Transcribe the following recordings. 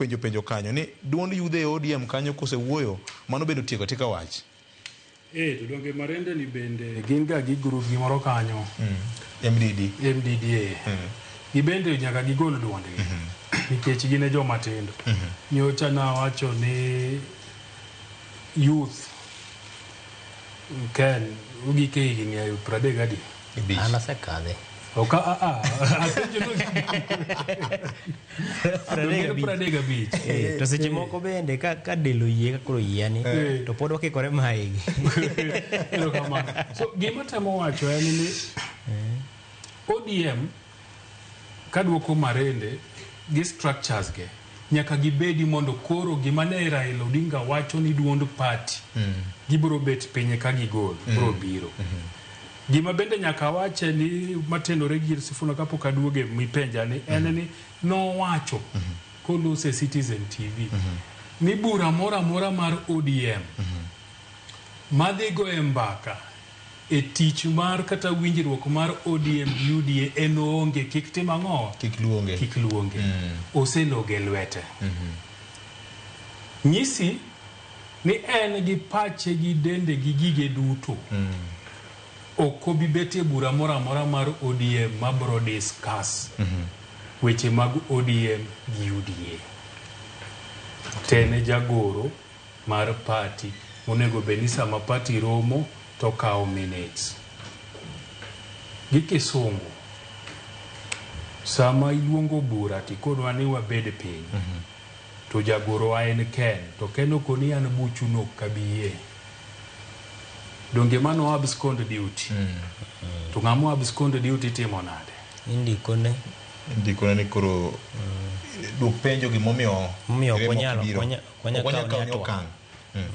penjo penjo kanyo ni duond yudhe e ODM kanyo kose wuoyo mano bende otieko atika wach. Eh to donge marende ni bende eh, gin ga gi group gi moro kanyo. Mm. MDD. MDD. Eh. Mm. Gibende nyaka gigol duond gi. Mm -hmm. Nikech gin e joma tindo. Mm -hmm. Nyocha na wacho ni youth Ken ugike higni 30 gadi. Ibich. An asekadhe. Oka a a. Apenjo no. Adonge pradeg abich. Eh, to seche moko bende ka ka del oyie ka koro yiani Eh. to pod wakikore maigi. Erokamano. So gima temo wacho en ni ODM Kaduoko marende gi structures ge nyaka gibedi mondo koro gima ne Raila Odinga wacho ni duond party gibiro bet pinye ka gigol biro biro. Gima bende nyaka awache ni matenore gi Sifuna kapok aduoge mipenja ni en ni nowacho kolose Citizen TV ni bura moro amora mar ODM madhi go e mbaka e tich mar kata winjruok mar ODM gi UDA en oonge kik tim ang'o? Kik luonge. Kik luonge. Mm. Oseloge lwete. Mm -hmm. Nyisi ni en gi pache gi dende gi gige duto. Mm. Ok obi bet e bura moro amora mar ODM ma bro discuss mm -hmm. weche mag ODM gi UDA. Tene jagoro mar party monego bed ni sama party romo to okawo minutes. Gi kisungu, sama iluongo bura to ikonwa ni wabed piny, to jagorowa en Ken, to Ken okoni an buchu no ok abi yie. Donge mano abscond duty? To ng'ama abscond duty timo nade? Indikone. Ndikone ni koro dwok penjo gimomiyo Momiyo ok remo onyal- ok biro. onya- Ok wanyal kawo ne okang'.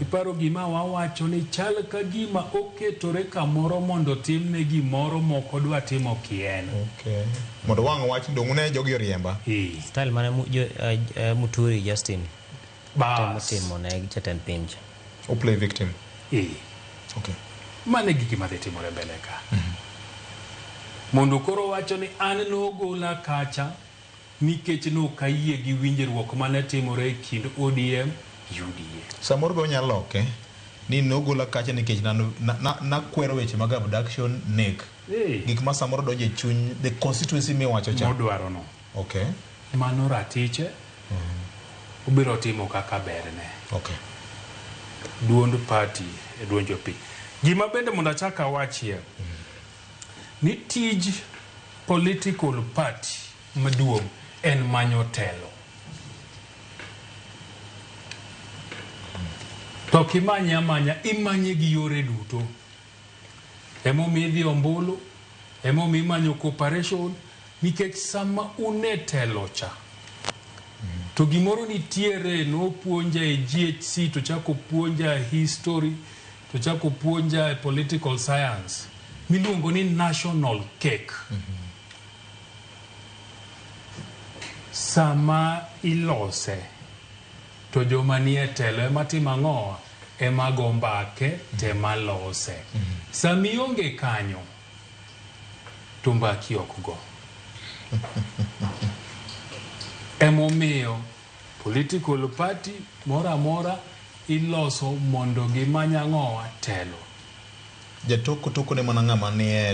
Iparo gima wawacho ni chal ka gima oketore kamoro mondo otimne gimoro mok odwa timo kien. Okay. Mondo wang' owach ni donge uneno jogi oriemba. Ee. Style mane mu- jo- eh, eh, Muturi Justin temo Bas. timo ne jatend piny cha. O play victim. Ee. Okay. Mano e gigi ma dhi timore mbele ka. Mondo koro wacho ni an nogola kacha Nikech nok ayie gi winjruok mane timore e kind ODM, UDA. Samoro be wanyalo loke ni nogola kacha nikech nakwero weche mag abduction, nek, gik ma samoro donjo e chuny the constituency miwacho cha. Modwaro no. Okay. Mano ratiche, obiro timo kaka berne. Okay. Duond party e duond jopiny. Gima bende mondo achak awachie. Ni tij political party maduong en manyo telo. To ok imanye amanya, imanye gi yore duto. Ema omiyo idhi ombulu, ema omiyo imanyo cooperation nikech sama un e telo cha to gimoro nitiere nopuonja e GHC to chako puonja history to chako puonja e political science miluongo ni national cake sama ilose to joma nie telo ema timo ang'o ema go mbake tema lose sama ionge kanyo to mbaki ok go emomiyo Political party moro amora iloso mondo gimany ang'owa? Telo. Jatoko tokone mana ng'ama nie telo.